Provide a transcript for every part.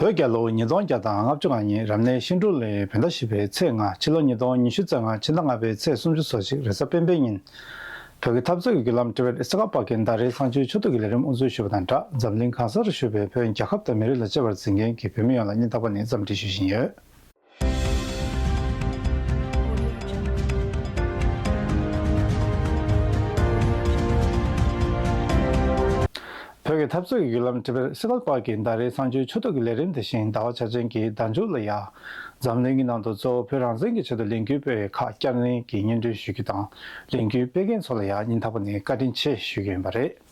བོད་རྒྱལ་ལོ་ཉིས་སྟོང་བརྒྱ་དང་ལྔ་བཅུ་ལྔ་ཉིན་རབ་གནས་ཤིང་དྲུག་ལོའི་བོད་ཟླ་བཞི་པའི་ཚེས་ལྔ་ཕྱི་ལོ་ཉིས་སྟོང་ཉི་ཤུ་རྩ་ལྔ་ཕྱི་ཟླ་ལྔ་པའི་ཚེས་སུམ་ཅུ་སོ་གཅིག་རེས་གཟའ་སྤེན་པའི་ཉིན། བོད་ཀྱི་འཐབ་རྩོད་ཀྱི་བརྒྱུད་ལམ་ཀྲི་བེད་ཨེ་སི་ཀ་པ་ཀན་ད་རའི་ཚང་ཆུའི་ཕྱོགས་བསྡུས་ཀྱི་ལས་རིམ་དབུ་འཛུགས་ཞུས་པ་དང་སྦྲགས་འཛམ་གླིང་གང་ས་རུ་བཞུགས་པའི་བོད་རྒྱལ་ཁབ་དང་མི་རིགས་ལ་གཅེས་པར་འཛིན་མཁན་གྱི་བོད་མི་ཡོངས་ལ་སྙིང་ཐག་པ་ནས་བརྩམས་འབྲི་ཞུ་བཞིན་ཡོད། བོད་ཀྱི་འཐབ་རྩོད་ཀྱི་བརྒྱུད་ལམ་དྲིལ་བུར་གསེར་ལག་པགས་ཀྱི་ཟླ་རེའི་ཚངས་སྤྱོད་ཆུ་ཐོག་གི་ལས་རིམ་དེ་བཞིན་ཟླ་བ་ཆ་ཅན་གྱི་ཟླ་མཇུག་ལ་ཡང། འཛམ་གླིང་གི་ནང་དུ་གཙོ་བོ་བོད་རང་བཙན་གྱི་ཆེད་དུ་ལས་འགུལ་སྤེལ་བའི་ཁག་བསྐྱར་ལེན་གྱི་སྙན་སྒྲོན་ཞུ་རྒྱུ་དང་ལས་འགུལ་སྤེལ་མཁན་ཚོ་ལ་ཡང་ཉིན་ཐ་པ་ནས་བཀའ་དྲིན་ཆེ་ཞུ་རྒྱུ་ཡིན་པ་རེད།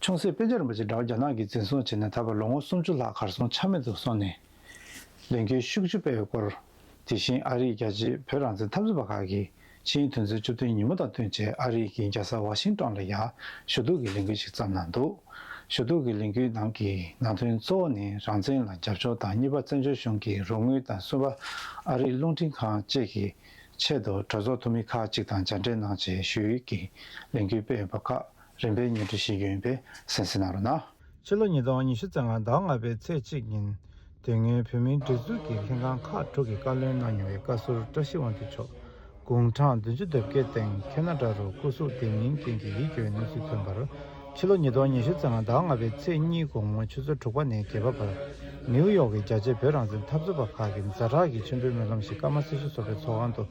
ཆུང་སྲིད་དཔེ་ཆ་རིན་པོ་ཆེ་འདྲ་བ་རྒྱ་ནག་གིས་འཛིན་བཟུང་བྱས་ནས་ད་བར་ལོ་ངོ་སུམ་ཅུ་ལྷག་གར་སོང་ཆ་མེད་དུ་སོང་ནས། ལས་འགུལ་ཤུགས་ཆུ་སྤེལ་བའི་སྐོར། དེ་བཞིན་ཨ་རིས་རྒྱལ་སྤྱིའི་བོད་རང་བཙན་འཐབ་རྩོད་པ་ཁག་གིས་ཕྱིའི་དོན་ཚན་བཅུ་བདུན་ཉིན་མོ་དང་བསྟུན་བྱས་ཨ་རིས་ཀྱིས་རྒྱལ་ས་ཝ་ཤིང་ཀྲོང་ལ་ཡང་ཞུ་གཏུག་གི་ལས་འགུལ་ཞིག་བརྩམས་གནང་འདུག་ཞུ་གཏུག་གི་ལས་འགུལ་ནང་གི་ནང་དོན་གཙོ་བོ་ནི་རང་བཙན་ལ་རྒྱབ་སྐྱོར་དང་གཉིས་པ་བཙན་བྱོལ་གཞུང་གི་རོགས་དངུལ་དང་གསུམ་པ་ཨ་རིའི་རླུང་འཕྲིན་ཁང་བཅས་ཀྱིས་ཆེད་དུ་གྲོས་ཚོགས་འཐུས་མི་ཁག་གཅིག་དང་མཇལ་འཕྲད་གནང་རྗེས་ཞུ་ཡིག་གི་ལས་འགུལ་སྤེལ་ཡོད་པ་ཁག་རིམ་པས་སྙན་སྒྲོན་བཞེས་རྒྱུ་ཡིན་པས་གསན་གཟིགས་གནང་རོགས་གནང། ཕྱི་ལོ་ཉིས་སྟོང་ཉི་ཤུ་ཚེས་ལྔ་ཟླ་ལྔ་པའི་ཚེས་གཅིག་ཉིན། དེ་སྔོན་བོད་མིའི་སྒྲིག་འཛུགས་ཀྱི་ལྷན་ཁང་ཁག་དྲུག་གིས་བཀའ་བློན་གནང་མྱོང་བའི་བཀའ་ཟུར་བཀྲ་ཤིས་དབང་འདུས་མཆོག་དགུང་གྲངས་བདུན་ཅུ་དོད་པའི་སྟེང་ཁེ་ན་སྒྲ་རུ་སྐུ་གཟུགས་བདེ་མིན་རྐྱེན་གྱིས་ཡིད་སྐྱོའི་གནས་ཚུལ་ཐོན་པར། ཕྱི་ལོ་ཉིས་སྟོང་ཉི་ཤུ་ཙམ་ལ་ཟླ་ལྔ་པའི་ཚེས་གཉིས་དགོང་མོ་ཆུ་ཚོད་དྲུག་པ་ནས་བརྒྱད་པ་བར་ནེའུ་ཡོག་གི་རྒྱ་ཆེའི་བོད་རང་བཙན་འཐབ་རྩོད་པ་ཁག་གི་མཛའ་གྲགས་ཀྱི་མཆོད་འབུལ་སྨོན་ལམ་ཞིག་ཀརྨ་སྲི་ཞུ་ཚོགས་པའི་ཚོགས་ཁང་དུ་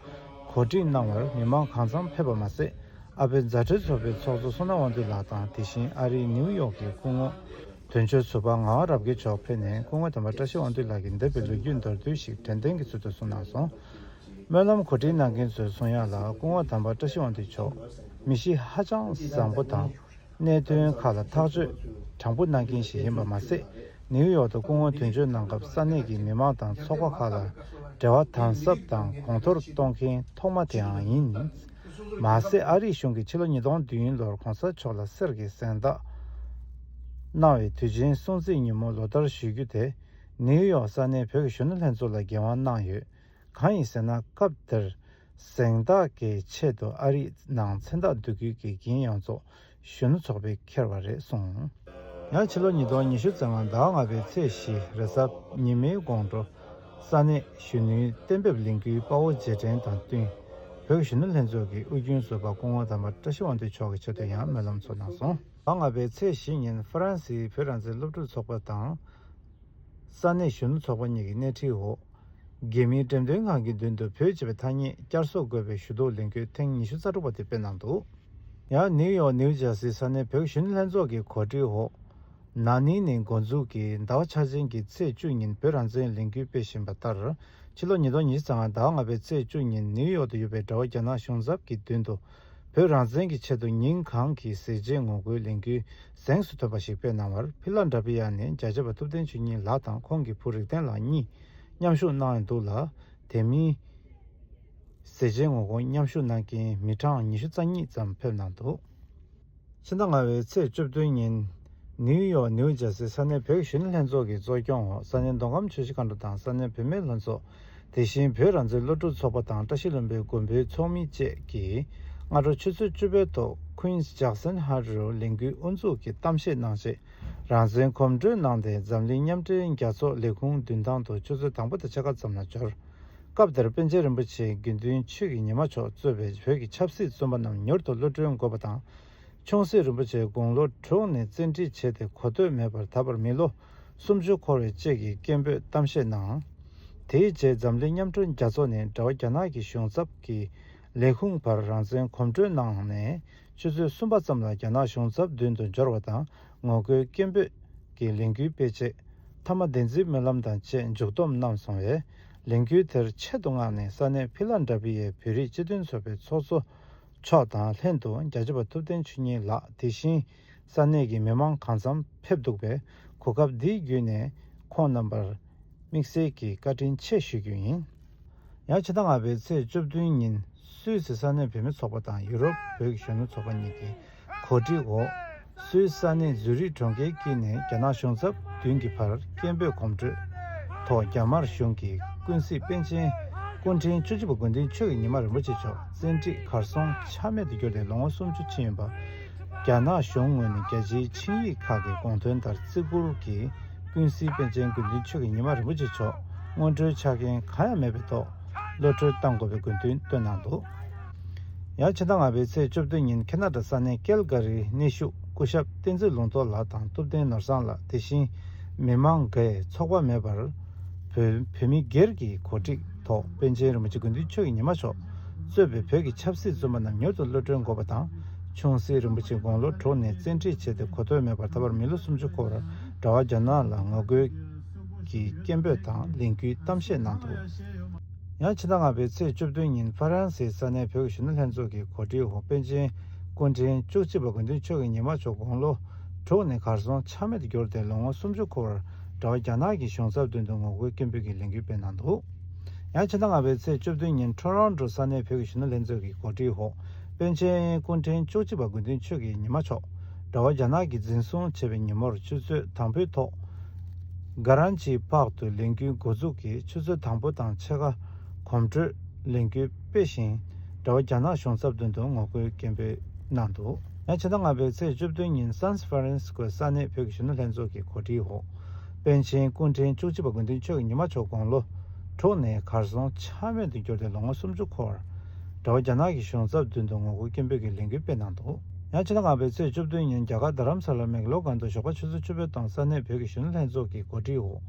གོ་སྒྲིག་གནང་བར་མི་མང་གང་འཚམ་ཕེབས་པ་མ་ཟད་ཨ་བོད་མཛའ་གྲོས་ཚོགས་པའི་ཚོགས་གཙོ་བསོད་ནམས་དབང་འདུས་ལགས་དང་དེ་བཞིན་ཨ་རིའི་ནེའུ་ཡོག་གི་སྐུ་ངོ་དོན་གཅོད་ཟུར་པ་ངག་རབ་རྒྱལ་མཆོག་ཕེབས་ནས་སྐུ་ངོ་དམ་པ་བཀྲ་ཤིས་དབང་འདུས་ལགས་ཀྱི་འདས་པའི་ལོ་རྒྱུས་མདོར་བསྡུས་ཤིག་དྲན་རྟེན་གྱི་ཚུལ་དུ་གསུངས་གནང་སོང། སྨོན་ལམ་གོ་སྒྲིག་གནང་མཁན་ཚོའི་གསུང་དབྱངས་ལ་སྐུ་ངོ་དམ་པ་བཀྲ་ཤིས་དབང་འདུས་མཆོག་མི་གཤིས་ཧ་ཅང་བཟང་པོ་དང་གནད་དོན་ཁག་ལ་ཐག་གཅོད་དྲང་པོ་གནང་མཁན་ཞིག་ཡིན་པ་མ་ཟད་ནིའུ་ཡོག་ཏུ་སྐུ་ངོ་དོན་གཅོད་གནང་སྐབས་ས་གནས་ཀྱི་མི་མང་དང་ཚོགས་པ་ཁག་ལ་འབྲེལ་བ་དམ་ཟབ་དང་གོང་མཐོར་གཏོང་མཁན་ཐོག་མ་དེའང་ཡིན། མ་ཟད་ཨ་རིའི་གཞུང་གིས་ཕྱི་ལོ་ཉིས་སྟོང་བདུན་ལོར་གོང་ས་མཆོག་ལ་གསེར་གྱི་གཟེངས་རྟགས་གནང་བའི་དུས་ཆེན་སྲུང་བརྩི་ཉིན་མོ་ལོ་ལྟར་ཞུ་རྒྱུ་དེ་ནིའུ་ཡོག་ས་གནས་བོད་ཀྱི་གཞོན་ནུ་ལྷན་ཚོགས་ལ་འགན་དབང་གནང་ཡོད། གང་ཡིན་ཟེར་ན་སྐབས་དེར་གཟེངས་རྟགས་ཀྱི་ཆེད་དུ་ཨ་རིས་ནང་མཚན་རྟགས་བསྡུ་ཁུལ་གྱི་འགན་ཡང་ཚོགས་གཞོན་ནུ་ཚོགས་པས་འཁྱེར་བ་རེད་གསུངས། ཡང་ཕྱི་ལོ་ཉིས་སྟོང་ཉི་ཤུ་ཙམ་ཟླ་ལྔ་པའི་ཚེས་བཞི་རེས་གཟའ་ཉི་མའི་དགོང་དྲོ་ས་གནས་གཞོན་ནུའི་གཏན་འབེབས་ལས་འགུལ་དཔའ་བོ་རྗེས་དྲན་དང་བསྟུན་བོད་གཞོན་ནུ་ལྷན་ཚོགས་ཀྱི་དབུས་རྒྱུན་བཟོ་པ་སྐུ་ངོ་དམ་པ་བཀྲ་ཤིས་དབང་འདུས་མཆོག་གི་ཆེད་དུ་ཡང་སྨོན་ལམ་ཚོགས་གནང་སོང། ཟླ་ལྔ་པའི་ཚེས་བཞི་ཉིན་ཧྥ་རན་སིའི་བོད་རང་བཙན་སློབ་ཕྲུག་ཚོགས་པ་དང། ས་གནས་གཞོན་ནུ་ཚོགས་པ་གཉིས་ཀྱི་སྣེ་ཁྲིད་འོག་དགེ་མིང་འགྲེམས་སྟོན་ཁང་གི་མདུན་དུ་བོད་ཅེས་པའི་ཐ་སྙད་བསྐྱར་གསོ་དགོས་པའི་ཞུ་གཏུག་ལེན་ཁུལ་ཐེངས་ཉི་ཤུ་རྩ་དྲུག་པ་དེ་སྤེལ་གནང་འདུག། ཡང་ནིའུ་ཡོག་ནིའུ་ཇར་སི་ས་གནས་བོད་གཞོན་ལྷན་ཚོགས་ཀྱི་གོ་སྒྲིག་འོག། ན་ནིང་ནི་འགོ་འཛུགས་ཀྱིས་ཟླ་བ་འཆར་ཅན་གྱི་ཚེས་བཅུ་ཉིན་བོད་རང་བཙན་ལས་འགུལ་སྤེལ་བཞིན་པ་ལྟར། ཕྱི་ལོ་ཉིས་སྟོང་ཉི་ཤུ་ཚང་ཟླ་བ་ལྔ་པའི་ཚེས་བཅུ་ཉིན་ནིའུ་ཡོག་ཏུ་ཡོད་པའི་དགྲ་བོ་རྒྱ་ནག་གཞུང་ཚབ་ཀྱི་མདུན་དུ། བོད་རང་བཙན་གྱི་ཆེད་དུ་ཉིན་གང་གི་ཟས་བརྗེད་ངོ་རྒོལ་ལས་འགུལ་གཟེངས་སུ་ཐོན་པ་ཞིག་སྤེལ་གནང་བར་ཕི་ལ་འདྲ་བྷི་ཡ་ནས་མཇལ་བྱེད་པ་ཐུབ་བསྟན་ཆོས་ཉིད་ལགས་དང་ཁོང་གི་བུ་རིག་ལྡན་ལགས་གཉིས་མཉམ་ཞུགས་གནང་ཡོད་འདུག་ལ་དེ་མིན། ཟས་བརྗེད་ངོ་རྒོལ་མཉམ་ཞུགས་གནང་མཁན་མི་གྲངས་ཉི་ཤུ་རྩ་གཉིས་ཙམ་ཕེབས་གནང་འདུག། ཕྱི་ཟླ་ལྔ་བའི་ཚེས་བཅུ་བདུན་ཉིན། ནིའུ་ཡོག་ནིའུ་ཇར་སི་ས་གནས་བོད་གཞོན་ལྷན་ཚོགས་ཀྱི་གཙོ་སྐྱོང་འོག་ས་གནས་མདོ་ཁམས་ཆུ་བཞི་མཁའ་འགྲོ་དང་ས་གནས་བུད་མེད་ལྷན་ཚོགས། དེ་བཞིན་བོད་རང་བཙན་སློབ་ཕྲུག་ཚོགས་པ་དང་བཀྲ་ཤིས་བློན་པོའི་མགོན་པོའི་ཚོགས་མི་བཅས་ཀྱིས་སྔ་དྲོ་ཆུ་ཚོད་བཅུ་པའི་ཐོག Queens Jackson High རུ་ལས་འགུལ་དབུ་འཛུགས་ཀྱི་གཏམ་བཤད་གནང་རྗེས་རང་བཙན་གོམ་བགྲོད་གནང་སྟེ་འཛམ་གླིང་མཉམ་འབྲེལ་རྒྱལ་ཚོགས་ལས་ཁུངས་མདུན་ཐང་དུ་ཆུ་ཚོད་དང་པོ་དང་ཕྱེད་ཀ་ཙམ་ལ་འབྱོར། སྐབས་དེར་པཎ་ཆེན་རིན་པོ་ཆེའི་དགེ་འདུན་ཆོས་ཀྱི་ཉི་མ་མཆོག་གཙོས་པའི་བོད་ཀྱི་ཆབ་སྲིད་བཙོན་པ་རྣམས་མྱུར་དུ་གློད་བཀྲོལ་དགོས་པ་དང། ཆུང་སྲིད་རིན་པོ་ཆེ་དགུང་ལོ་དྲུག་ནས་བཙན་ཁྲིད་བྱས་ཏེ་གོ་ཐོས་མེད་པར་ད་བར་མི་ལོ་སུམ་ཅུ་འཁོར་བའི་བཅས་ཀྱི་སྐད་འབོད་གཏམ་བཤད་གནང། དེའི་རྗེས་འཛམ་གླིང་མཉམ་སྐྲུན་རྒྱ་མཚོ་ནས་འབྲེལ་བ་རྒྱ་ནག་གི་གཞུང་ཚབ་ཀྱི་ལས་ཁུངས་བར་རང་བཙན་གོམ་བགྲོད་གནང་ནས་ཆུ་ཚོད་གསུམ་པ་ཙམ་ལ་རྒྱ་ནག་གཞུང་ཚབ་མདུན་དུ་འབྱོར་བ་དང་ངོ་རྒོལ་སྐད་འབོད་ཀྱི་ལས་འགུལ་སྤེལ་རྗེས་མཐའ་མ་བདེན་རྩིས་སྨོན་ལམ་དང་བཅས་མཇུག་སྡོམ་གནང་སོང་བས། ལས་འགུལ་དེར་ཆེད་དུ་མངགས་ནས་ས་གནས་བྷི་ལ་འདྲ་བྷི་ཡའི་བོད་རིགས་སྤྱི་མཐུན་ཚོགས་པའི་ཚོགས་གཙོ་མཆོག་དང་ལྷན་དུ་རྒྱ་ཆེ་བ་ཐུབ་བསྟན་ཆོས་ཉིད་ལགས་དེ་བཞིན་ས་གནས་ཀྱི་མི་མང་གང་འཚམ་ཕེབས་འདུག་པས་གོ་སྐབས་འདི་བརྒྱུད་ནས་ཁོང་རྣམ་པར་དམིགས་བསལ་གྱི་བཀའ་དྲིན་ཆེ་ཞུ་རྒྱུ་ཡིན། ཡང་ཕྱི་ཟླ་ལྔ་པའི་ཚེས་བཅུ་བདུན་ཉིན་སུད་སི་ས་གནས་བུད་མེད་ཚོགས་པ་དང་ཡུ་རོབ་བོད་ཀྱི་གཞོན་ནུ་ཚོགས་པ་གཉིས་ཀྱིས་གོ་སྒྲིག་འོག་སུད་སི་གནས་ཛུ་རིག་གྲོང་ཁྱེར་གྱི་ནས་རྒྱ་ནག་གཞུང་ཚབ་མདུན་གྱི་བར་སྐད་འབོད་གོམ་བགྲོད་ཐོག་རྒྱ་དམར་གཞུང་གི་ཀུན་གཟིགས་པཎ་ཆེན་སྐུ་ཕྲེང་བཅུ་བཞི་པ་དགོན་འདུན་ཆོས་ཀྱི་ཉི་མ་རིན་པོ་ཆེ་མཆོག་བཙན་ཁྲིད་གར་སོང་ཆ་མེད་དུ་གྱུར་ཏེ་ལོ་ངོ་སུམ་ཅུ་ཕྱིན་ཡོད་པ། རྒྱ་ནག་གཞུང་ངོས་ནས་རྒྱལ་སྤྱིའི་ཆིངས་ཡིག་ཁག་གི་དགོངས་དོན་ལྟར་བརྩི་བཀུར་གྱིས་ཀུན་གཟིགས་པཎ་ཆེན་དགོན་འདུན་ཆོས་ཀྱི་ཉི་མ་རིན་པོ་ཆེ་མཆོག་སྔོན་འགྲོའི་ཆ་རྐྱེན་གང་ཡང་མེད་པའི་ཐོག་གློད་བཀྲོལ་གཏང་དགོས་པའི་དགོས་འདུན་བཏོན་གནང་འདུག། ཡང་ཕྱི་ཟླ་ལྔ་པའི་ཚེས་བཅོ་བརྒྱད་ཉིན་ཁེ་ན་ཏྲ་ས་གནས་ཀེལ་གྷ་རིའི་གནས་བཞུགས་སྐུ་ཞབས་བསྟན་འཛིན་ལུང་རྟོགས་ལགས་དང་ཐུབ་བསྟན་ནོར་བཟང་ལགས་དེ་བཞིན་མི་མང་འགས་ཚོགས་པ་མེད་པར། བོད་མི་སྒེར་གྱི་གོ་སྒྲིག་ཐོག་པཎ་ཆེན་རིན་པོ་ཆེ་དགོན་འདུས་ཆོས་ཀྱི་ཉི་མ་མཆོག་གཙོས་པའི་བོད་ཀྱི་ཆབ་སྲིད་བཙོན་པ་རྣམས་མྱུར་དུ་གློད་གྲོལ་འགོག་པ་དང་ཆུང་སྲིད་རིན་པོ་ཆེ་དགུང་ལོ་དྲུག་ནས་བཙན་ཁྲིད་བྱས་ཏེ་གོ་ཐོས་མེད་པར་ད་བར་མི་ལོ་སུམ་ཅུ་འཁོར་བར་གྲྭ་བ་རྒྱ་ནག་ལ་ངོ་རྒོལ་གྱི་སྐད་འབོད་དང་ལས་འགུལ་གཏམ་བཤད་གནང་འདུག། ཡང་ཕྱི་ཟླ་ལྔ་པའི་ཚེས་བཅུ་བདུན་ཉིན་ཧྥ་རན་སེའི་ས་གནས་བོད་ཀྱི་གཞོན་ནུ་ལྷན་ཚོགས་ཀྱི་གོ་སྒྲིག་འོག་པེ་ཅིན་སྐུ་འཕྲེང་བཅུ་གཅིག་པ་དགོན་འདུས་ཆོས་ཀྱི་ཉི་མ་མཆོག་དགུང་ལོ་དྲུག་ནས་གར་སོང་ཆ་མེད་དུ་གྱུར་ཏེ་ལོ་ངོ་སུམ་ཅུ་འཁོར་བར་འདྲ་བ་རྒྱ་ནག་གི་གཞུང་ཚབ་མདུན་དུ་ངོ་རྒོལ་སྐད་འབོད་ཀྱི་ལས་འགུལ་སྤེལ་གནང་འདུག་ཡང་ཕྱི་ཟླ་ལྔ་པའི་ཚེས་བཅུ་བདུན་ཉིན་ཁྲོན་རོང་ཀྲོའུ་ས་གནས་བོད་ཀྱི་གཞོན་ནུ་ལྷན་ཚོགས་ཀྱི་གོ་སྒྲིག་འོག་པེ་ཅིན་སྐུ་འཕྲེང་བཅུ་གཅིག་པ་དགོན་འདུས་ཆོས་ཀྱི་ཉི་མ་མཆོག་འདྲ་བ་རྒྱ་ནག་གིས་འཛིན་བཟུང་བྱས་པའི་ཉིན་མོར་ཆུ་ཚོད་དང་པོའི་ཐོག་སྒར་རང་ཅི་ལྤགས་དུ་ལས་འགུལ་འགོ་འཛུགས་ཀྱི་ཆུ་ཚོད་དང་པོ་དང་ཕྱེད་ཀ་གོམ་བགྲོད་ལས་འགུལ་སྤེལ་ཞིང་དྲ་བ་རྒྱ་ནག་གཞུང་ཚབ་མདུན་དུ་ངོ་རྒོལ་སྐད་འབོད་གནང་འདུག། ཕྱི་ཟླ་ལྔ་པའི་ཚེས་བཅུ་བདུན་ཉིན་སཱན་སི་ཧྥ་རན་སི་ཀོའི་ས་གནས་བོད་ཀྱི་གཞོན་ནུ་ལྷན་ཚོགས་ཀྱི་གོ་སྒྲིག་འོག་པཎ་ཆེན་སྐུ་ཕྲེང་བཅུ་གཅིག་པ་དགོན་འདུས་ཆོས་ཀྱི་ཉི་མ་མཆོག་དགུང་ལོ་དྲུག་ནས་གར་སོང་ཆ་མེད་དུ་གྱུར་ཏེ་ལོ་ངོ་སུམ་ཅུ་འཁོར་བར་དྲ་བ་རྒྱ་ནག་གི་གཞུང་ཚབ་མདུན་དུ་ངོ་རྒོལ་སྐད་འབོད་ཀྱི་ལས་འགུལ་སྤེལ་གནང་འདུག། ཡང་ཕྱི་ཟླ་ལྔ་པའི་ཚེས་བཅུ་བདུན་ཉིན་རྒྱ་གར་རྡ་རམ་ས་ལར་མེག་ལོ་སྒང་དུ་ཞོགས་པ་ཆུ་ཚོད་བཅུ་པའི་སྟེང་ས་གནས་བོད་ཀྱི་གཞོན་ནུ་ལྷན་ཚོགས་ཀྱི་གོ་སྒྲིག་འོག།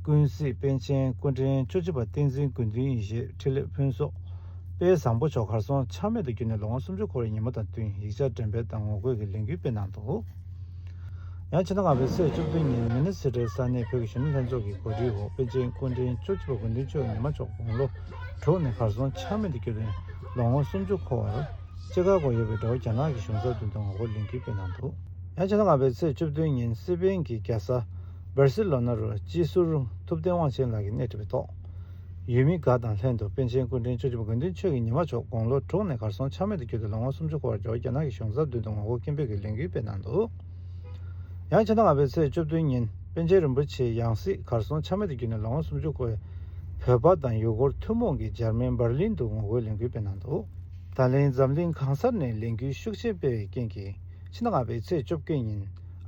ཀུན་གཟིགས་དཔལ་ཆེན་སྐུ་ཕྲེང་བཅུ་གཅིག་པ་བསྟན་འཛིན་དགོས་འདུན་ཡེ་ཤེས་ཕྲིན་ལས་ཕུན་ཚོགས་དཔལ་བཟང་པོ་མཆོག་གར་སོང་ཆག་མེད་དུ་བརྒྱུད་ནས་ལོ་ངོ་སུམ་ཅུ་འཁོར་བའི་ཉིན་མོ་དང་བསྟུན་ཡིག་ཆ་འགྲེམས་སྤེལ་དང་ངོ་རྒོལ་གྱི་ལས་འགུལ་སྤེལ་གནང་འདུག་ཡང་ཕྱི་ཟླ་ལྔ་པའི་ཚེས་བཅུ་བདུན་ཉིན་མི་ནི་སི་ཏྲའི་ས་གནས་བོད་ཀྱི་གཞོན་ནུ་ལྷན་ཚོགས་ཀྱི་གོ་སྒྲིག་འོག་དཔལ་ཆེན་སྐུ་ཕྲེང་བཅུ་གཅིག་པ་དགོས་འདུན་ཆོས་ཉི་མ་མཆོག་དགུང་ལོ་དྲུག་ནས་གར་སོང་ཆག་མེད་དུ་བརྒྱུད་ནས་ལོ་ངོ་སུམ་ཅུ་འཁོར་བར། ཅེས་ཁ་སྐོང་ཡོད་པའི་སྒྲ་བོ་རྒྱ་ནག་གི་གཞུང་ཚབ་དོན་དུ་ངོ་རྒོལ་ལིང་ཁུལ་སྤེལ་གནང་འདུག། ཡང་ཕྱི་ལོ་ལྔ་པའི་ཚེས་བཅུ་བདུན་ཉིན་སི་པེན་གྱི་རྒྱལ་ས Barcelona རུ་སྤྱི་ཟུར་ཐུབ་བསྟན་དབང་ཆེན་ལགས་ཀྱིས་སྣེ་ཁྲིད་པའི་ཐོག་ཡུལ་མི་འགའ་དང་ལྷན་དུ་པཎ་ཆེན་སྐུ་ཕྲེང་བཅུ་བཞི་པ་དགོན་བདུན་ཆོས་ཀྱི་ཉི་མ་མཆོག་དགུང་ལོ་དྲུག་ནས་གར་སོང་ཆ་མེད་དུ་གྱུར་ཏེ་ལོ་ངོ་སུམ་ཅུ་འཁོར་བར་འགྱུར་བ་རྒྱ་ནག་གི་གཞུང་ཚབ་དོན་དུ་ངོ་རྒོལ་སྐད་འབོད་ཀྱི་ལས་འགུལ་སྤེལ་གནང་འདུག་ཡང་ཕྱི་ཟླ་ལྔ་པའི་ཚེས་བཅུ་བདུན་ཉིན་པཎ་ཆེན་རིན་པོ་ཆེའི་ཡང་སྲིད་གར་སོང་ཆ་མེད་དུ་གྱུར་ནས་ལོ་ངོ་སུམ་ཅུ་འཁོར་བའི་བོད་པ་དང་ཡུ་གུར་ཐུན་མོང་གིས་འཇར་མན Berlin དུ་ངོ་རྒོལ་ལས་འགུལ་སྤེལ་གནང་འདུག། ད་ལན་འཛམ་གླིང་གང་སར་ནས་ལས་འགུལ་ཤུགས་ཆེན་སྤེལ་བའི་རྐྱེན་གྱིས་ཕྱི་ལྔ་པའི་ཚེས་བཅོ་བརྒྱད་ཉིན་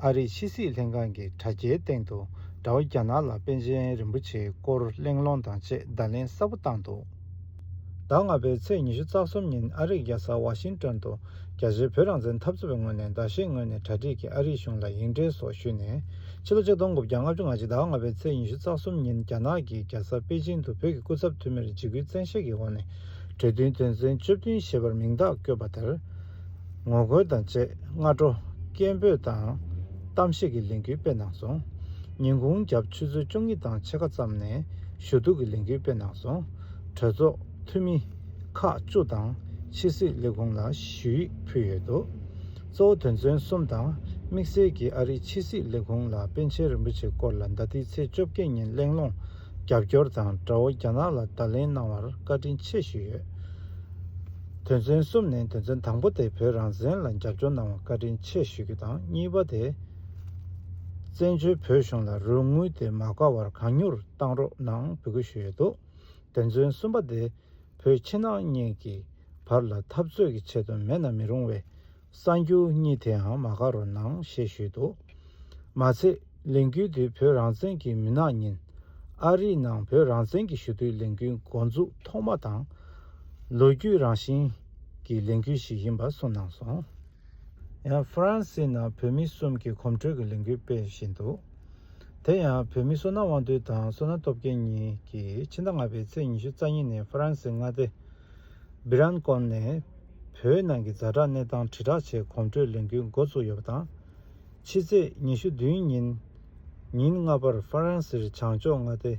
ཨ་རིའི་ཕྱི་སྲིད་ལྷན་ཁང་གི་དྲ་རྒྱའི་སྟེང་དུ་དགྲ་བོ་རྒྱ་ནག་ལ་པཎ་ཆེན་རིན་པོ་ཆེའི་སྐོར་གླེང་སློང་དང་བཅས་བརྡ་ལན་གསལ་པོ་བཏང་འདུག་ཟླ་ལྔ་པའི་ཚེས་ཉི་ཤུ་རྩ་གསུམ་ཉིན་ཨ་རིག་རྒྱལ་ས་ཝ་ཤིང་ཏོན་དུ་རྒྱ་ཆེའི་བོད་རང་བཙན་འཐབ་རྩོད་པའི་ངོས་ནས་ཟླ་ཤས་སྔོན་ནས་གྲ་སྒྲིག་གིས་ཨ་རིའི་གཞུང་ལ་ཡིག་འབྲེལ་སོགས་ཞུས་ནས་ཕྱི་ལོ་གཅིག་སྟོང་དགུ་བརྒྱ་ལྔ་བཅུ་ང་གཅིག་ཟླ་ལྔ་པའི་ཚེས་ཉི་ཤུ་རྩ་གསུམ་ཉིན་རྒྱ་ནག་གིས་རྒྱལ་ས་པེ་ཅིང་དུ་བོད་ཀྱི་སྐུ་ཚབ་འཐུས་མིར་འཇིགས་སྐུལ་བཙན་ཤེད་ཀྱི་འོག་ནས་གྲོས་མཐུན་དོན་ཚན་བཅུ་བདུན་ཞེས་པར་མིང་རྟགས་བཀོད་པ་དེར། ངོ་རྒོལ་དང་བཅས་སྔ་དྲོ། སྐད་འབོད་དང། གཏམ་བཤད་ཀྱི་ལས་འགུལ་སྤེལ་གནང་སོང། ཉིན་གུང་རྒྱབ་ཆུ་ཚོད་བཅོ་གཉིས་དང་ཕྱེད་ཀ་ཙམ་ནས་ཞུ་གཏུག་གི་ལས་འགུལ་སྤེལ་གནང་སོང། གྲོས་ཚོགས་འཐུས་མི། ཁག་བཅུ་དང། ཕྱི་སྲིད་ལས་ཁུངས་ལ་ཞུ་ཡིག་ཕུལ་ཡོད་འདུག་གཙོ་བོ་དོན་ཚན་གསུམ་དང་དམིགས་བསལ་གྱིས་ཨ་རིའི་ཕྱི་སྲིད་ལས་ཁུངས་ལ་པཎ་ཆེན་རིན་པོ་ཆེ་སྐོར་ལ་ཟླ་འདིའི་ཚེས་བཅོ་བརྒྱད་ཉིན་གླེང་སློང་རྒྱབ་སྐྱོར་དང་དགྲ་བོ་རྒྱ་ནག་ལ་བརྡ་ལན་གནང་བར་བཀའ་དྲིན་ཆེ་ཞུས་ཡོད། དོན་ཚན་གསུམ་ནས་དོན་ཚན་དང་པོ་དེ་བོད་རང་བཙན་ལ་རྒྱབ་སྐྱོར་གནང་བར་བཀའ་དྲིན་ཆེ་ཞུ་རྒྱུ་དང་གཉིས་པ་དེ། བཙན་བྱོལ་བོད་གཞུང་ལ་རོགས་དངུལ་དེ་མ་དགའ་བར་གང་མྱུར་གཏང་རོགས་གནང་འབོད་སྐུལ་ཞུས་ཡོད་འདུག་དོན་ཚན་གསུམ་པ་དེ། བོད་ཕྱི་ནང་གཉིས་ཀྱི་བར་ལ་འཐབ་རྩོད་ཀྱི་ཆེད་དུ་མེད་ན་མི་རུང་བའི། གསར་འགྱུར་གཉིས་དེའང་མ་དགའ་རུ་སྣང་ཞེས་ཞུས་འདུག་མ་ཚད་ལས་འགུལ་དེ་བོད་རང་བཙན་གྱི་མུན་ནག་ཉིན། ཨ་རིའི་ནང་བོད་རང་བཙན་གྱི་ཞུ་གཏུག་ལས་འགུལ་མགོ་འཛུགས་ཐོག་མ་དང། ལོ་རྒྱུས་རང་བཞིན་གྱི་ལས་འགུལ་ཞིག་ཡིན་པ་གསུངས་གནང་སོང། ཡང་ཧྥ་རན་སིའི་ནང་བོད་མི་གསུམ་གྱིས་གོམ་བགྲོད་ཀྱི་ལས་འགུལ་སྤེལ་བཞིན་འདུག་དེ་ཡང་བོད་མི་སོ་ན་དབང་འདུས་དང་སོ་ན་སྟོབས་རྒྱལ་གཉིས་ཀྱིས་ཕྱི་ཟླ་ལྔ་པའི་ཚེས་ཉི་ཤུ་རྩ་གཉིས་ནས་ཧྥ་རན་སིའི་མངའ་སྡེ་སྦི་རན་སྐོར་ནས་བོད་ནང་གི་རྫ་དྲག་གནས་སྟངས་དྲིལ་བསྒྲགས་ཆེད་གོམ་བགྲོད་ལས་འགུལ་མགོ་བཙུགས་ཡོད་པ་དང། ཕྱི་ཚེས་ཉི་ཤུ་བདུན་ཉིན། ཉིན་ལྔ་པར་ཧྥ་རན་སིར་བྱང་ཕྱོགས་མངའ་སྡེ་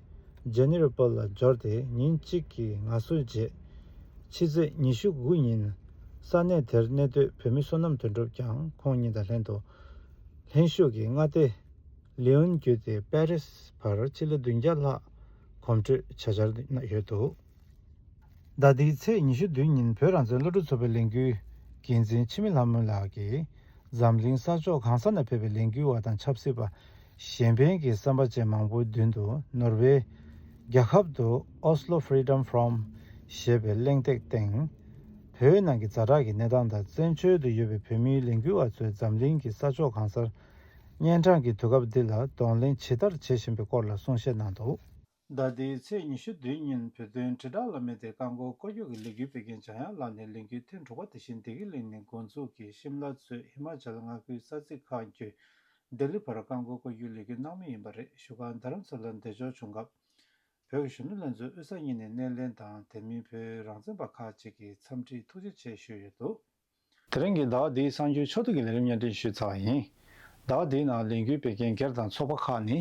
ཇེ་ནེ་རི་པོལ་ལ་འབྱོར་ཏེ་ཉིན་གཅིག་གི་ངལ་གསོའི་རྗེས། ཕྱི་ཚེས་ཉི་ཤུ་དགུ་ཉིན། ས་གནས་དེར་གནས་སྡོད་བོད་མི་བསོད་ནམས་དོན་གྲུབ་ཀྱང་ཁོང་ཉིད་དང་ལྷན་དུ། ལྷན་བཞུགས་ཀྱིས་མངའ་སྡེ་ལིའོན་བརྒྱུད་དེ་པེ་རེས་བར་སྤྱི་ལེ་བདུན་བརྒྱ་ལྷག་གོམ་བགྲོད་བྱ་འཆར་ཡོད་འདུག། ཟླ་འདིའི་ཚེས་ཉི་ཤུ་བདུན་ཉིན་བོད་རང་བཙན་སློབ་ཕྲུག་ཚོགས་པའི་ལས་འགུལ་འགན་འཛིན་འཆི་མེད་ལྷ་མོ་ལགས་ཀྱིས་འཛམ་གླིང་ས་ཕྱོགས་གང་ས་ན་ཕེབས་པའི་ལས་འགུལ་བ་དང་ཆབ་སྲིད་པ། གཞན་ཕན་གྱི་བསམ་པ་ཅན་མང་པོའི་མདུན་དུ་ནོར་ཝེ། རྒྱ་ཁབ་ཏུ Oslo Freedom Forum ཞེས་པའི་གླེང་སྟེགས་སྟེང། བོད་ནང་གི་རྫ་དྲག་གི་གནས་སྟངས་དང་བཙན་བྱོལ་དུ་ཡོད་པའི་བོད་མིའི་ལས་འགུལ་བ་ཚོས་འཛམ་གླིང་གི་ས་ཕྱོགས་གང་སར་གཉན་འཕྲང་གི་དུས་སྐབས་འདི་ལ་གདོང་ལེན་ཇི་ལྟར་བྱེད་བཞིན་པའི་སྐོར་ལ་གསུང་བཤད་གནང་འདུག། ཟླ་འདིའི་ཚེས་ཉི་ཤུ་བདུན་ཉིན་བོད་དོན་དྲིལ་བསྒྲགས་བླ་མེད་དེ་རྐང་འཁོར་སྐོར་སྐྱོད་ཀྱི་ལས་འགུལ་སྤེལ་མཁན་བྱང་ཡར་ལག་ནས་ལས་འགུལ་ཐེངས་དྲུག་པ་དེ་བཞིན་བདེ་སྐྱིད་གླིང་ནས་འགོ་འཛུགས་ཀྱིས་ཤིམ་ལ་གཙོས་ཧི་མཱ་ཅལ་མངའ་ཁུལ་ས་ཚིགས་ཁག་བརྒྱུད་ལྡི་ལི་བར་རྐང་འཁོར་སྐོར་སྐྱོད་ལས་འགུལ་གནང་མུས་ཡིན་པ་རེད་བཞུགས་སྒར་རྡ་རམ་ས་ལར་འདེད་འཇོག་བྱུང་སྐབས། བོད་ཀྱི་གཞོན་ནུ་ལྷན་ཚོགས་དབུས་ས་གཉིས་ནས་སྣེ་ལེན་དང་དེ་མིན་བོད་རང་བཙན་པ་ཁག་ཅིག་གིས་འཚམས་འདྲིའི་ཐུགས་རྗེ་ཆེ་ཞུས་ཡོད་འདུག། དེ་རིང་གི་ཟླ་བ་འདིའི་གསང་རྒྱུན་ཕྱོགས་བསྡུས་ཀྱི་ལས་རིམ་སྙན་སྒྲིག་ཞུས་ཚར་བ་ཡིན། ཟླ་བ་འདིའི་ནང་ལས་འགུལ་སྤེལ་མཁན་སྒེར་དང་ཚོགས་པ་ཁག་ནི།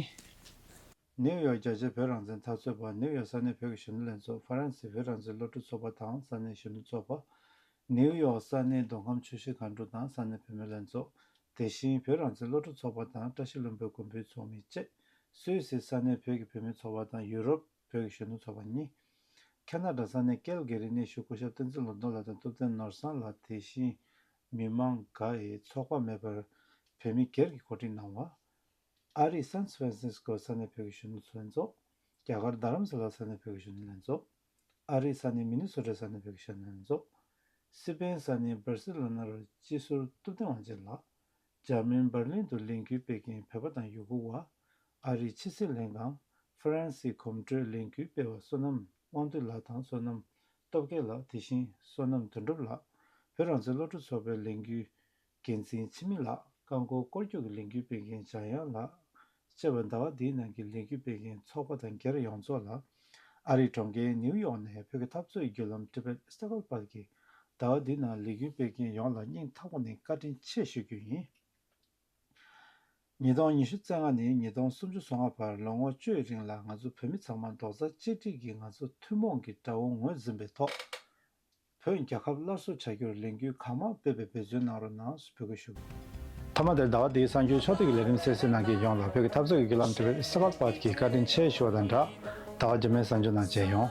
ནིའུ་ཡོག་རྒྱ་ཆེའི་བོད་རང་བཙན་འཐབ་རྩོད་པ་ནིའུ་ཡོག་ས་གནས་བོད་ཀྱི་གཞོན་ནུ་ལྷན་ཚོགས་ཧྥ་རན་སིའི་བོད་རང་བཙན་སློབ་ཕྲུག་ཚོགས་པ་དང་ས་གནས་གཞོན་ནུ་ཚོགས་པ། ནིའུ་ཡོག་ས་གནས་མདོ་ཁམས་ཆུ་བཞི་གངས་འབྲུག་དང་ས་གནས་བུད་མེད་ལྷན་ཚོགས། དེ་བཞིན་བོད་རང་བཙན་སློབ་ཕྲུག་ཚོགས་པ་དང་བཀྲ་ཤིས་བློན་པོའི་མགོན་པོའི་ཚོགས་མི་བཅས་སུད་སིའི་ས་གནས་བོད་ཀྱི་བུད་མེད་ཚོགས་པ་དང་ཡུ་རོབ། བོད་ཀྱི་གཞོན་ནུ་ཚོགས་པ་གཉིས། ཁྱེད་ནག་དྲ་ས་གནས་ཀེལ་གེ་རི་གནས་བཞུགས་སྐུ་ཞབས་བསྟན་འཛིན་ལོ་མདོ་ལགས་དང་ཐུབ་བསྟན་ནོར་བཟང་ལགས་དེ་བཞིན་མི་མང་འགའ་ཡི་ཚོགས་པ་མེད་པར་བོད་མི་སྒེར་གྱི་གོ་སྒྲིག་གནང་བ། ཨ་རིའི San Francisco ས་གནས་བོད་ཀྱི་གཞོན་ནུ་ཚོ་ལྷན་ཚོགས། རྒྱ་གར་རྡ་རམ་ས་ལ་ས་གནས་བོད་ཀྱི་གཞོན་ནུ་ལྷན་ཚོགས། ཨ་རིའི་ས་གནས་མི་ནི་སོ་ཀྲའི་ས་གནས་བོད་ཀྱི་གཞོན་ནུ་ལྷན་ཚོགས། སི་པེན་ས་གནས་བར་སི་ལོ་ནར་སྤྱི་ཟུར་ཐུབ་བསྟན་དབང་ཆེན་ལགས། འཇར་མན་འབར་ལིན་དུ་ལས་འགུལ་སྤེལ་མཁན་བོད་པ་དང་ཡུ་གུར་བ། ཨ་རིའི་ཕྱི་སྲིད་ལྷན་ཁང། France། གོམ་བགྲོད་ལས་འགུལ་སྤེལ་བ་བསོད་ནམས་དབང་འདུས་ལགས་དང་བསོད་ནམས་སྟོབས་རྒྱལ་ལགས་དེ་བཞིན་བསོད་ནམས་དོན་གྲུབ་ལགས། བོད་རང་བཙན་བློ་གྲོས་ཚོགས་པའི་ལས་འགུལ་འགན་འཛིན་འཆི་མེད་ལགས། རྐང་འཁོར་སྐོར་རྒྱུག་གི་ལས་འགུལ་སྤེལ་མཁན་འཇང་དབྱངས་ལགས། བརྩེ་བའི་ཟླ་བ་འདིའི་ནང་གི་ལས་འགུལ་སྤེལ་མཁན་ཚོགས་པ་དང་སྒེར་ཡོངས་རྫོགས་ལ། ཨ་རིའི་གྲོང་ཁྱེར་ནིའུ་ཡོག་ནས་བོད་ཀྱི་འཐབ་རྩོད་བརྒྱུད་ལམ Tibet Struggle བར་གྱི་ཟླ་བ་འདིའི་ནང་ལས་འགུལ་སྤེལ་མཁན་ཡོངས་ལ་སྙིང་ཐག་པ་ནས་བཀའ་དྲིན་ཆེ་ཞུ་རྒྱུ་ཡིན། ཉིས་སྟོང་ཉི་ཤུ་ཚེས་ལྔ་ནས་ཉིས་སྟོང་སུམ་ཅུ་སོ་ལྔ་བར་ལོ་ངོ་བཅུའི་རིང་ལ་ང་ཚོ་བོད་མི་ཚང་མ་རྡོག་རྩ་གཅིག་སྒྲིལ་གྱིས་ང་ཚོ་ཐུན་མོང་གི་དགྲ་བོ་ངོས་འཛིན་པའི་ཐོག་བོད་རྒྱལ་ཁབ་སླར་གསོ་བྱ་རྒྱུར་ལས་འགུལ་གང་མང་སྤེལ་བའི་འབོད་བརྩོན་གནང་རོགས་གནང་ཞེས་འབོད་སྐུལ་ཞུ། མཐའ་མ་དེར་ཟླ་བ་འདིའི་གསར་འགྱུར་ཕྱོགས་བསྡུས་ཀྱི་ལས་རིམ་གསལ་བསྲིང་གནང་མཁན་ཡོངས་ལ་བོད་ཀྱི་འཐབ་རྩོད་ཀྱི་བརྒྱུད་ལམ་དེ་བས་གསལ་བར་དཔག་གིས་བཀའ་དྲིན་ཆེ་ཞུ་བ་དང་སྦྲགས། ཟླ་བ་རྒྱ་མའི་གསར་འགྱུར་ནང་མཇལ་ཡོང།